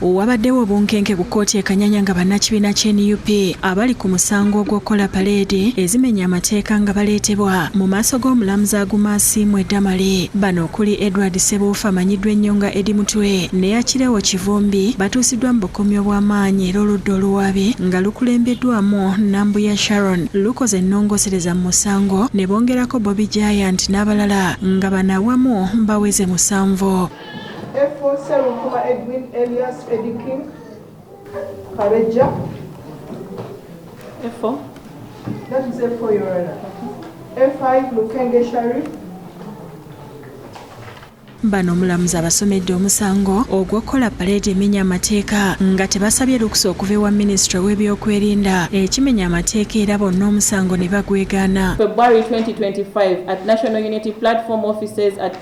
Wabaddewo obunkenke ku kkooti e Kanyanya nga bannakibiina kya nup abali ku musango ogw'okukola paleedi ezimenya amateeka nga baleetebwa mu maaso g'omulamuzi Aguma Asiimwe Damali. Bano okuli Edward Sebuufu amanyiddwa ennyo nga Eddie Mutwe ne Akirewo Kivumbi batuusiddwa mu bukomyi obw'amaanyi era oludda oluwaabi nga lukulembeddwamu Nambuya Sharon lukoze ennongosereza mu musango ne bongerako Bobi Giant n'abalala nga bano awamu baweze musanvu. Bano omulamuzi abasomedde omusango ogw'okukola paleedi emenya amateeka nga tebasabye lukusa okuva ewa minisitule w'ebyokwerinda ekimenya amateeka era bonna omusango ne bagwegaana.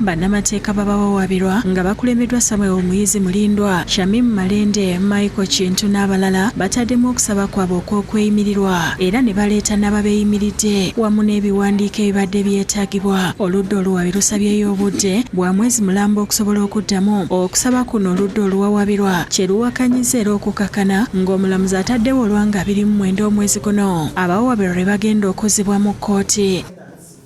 Bannamateeka b'abawawaabirwa nga bakulembeddwa Samuel Muyizi Mulindwa, Shamim Malende, Michael Kintu n'abalala bataddemu okusaba kwabwe okw'okweyimirirwa era ne baleeta n'ababeeyimiridde wamu n'ebiwandiiko ebibadde byetaagibwa. Oludda oluwaabi lusabyeyo obudde bwa mwezi mulamba okusobola okuddamu okusaba kuno oludda oluwawaabirwa kye luwakanyizza era okukakana ng'omulamuzi ataddewo olwa nga abiri mu mwenda omwezi guno abawawaabirwa lwe bagenda okuzzibwa mu kkooti.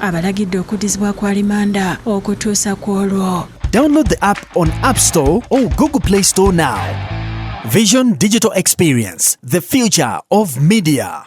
abalagidde okuddizibwa ku alimanda okutuusa ku olwo Download the app on App Store or Google Play Store now. Vision Digital Experience, the future of media.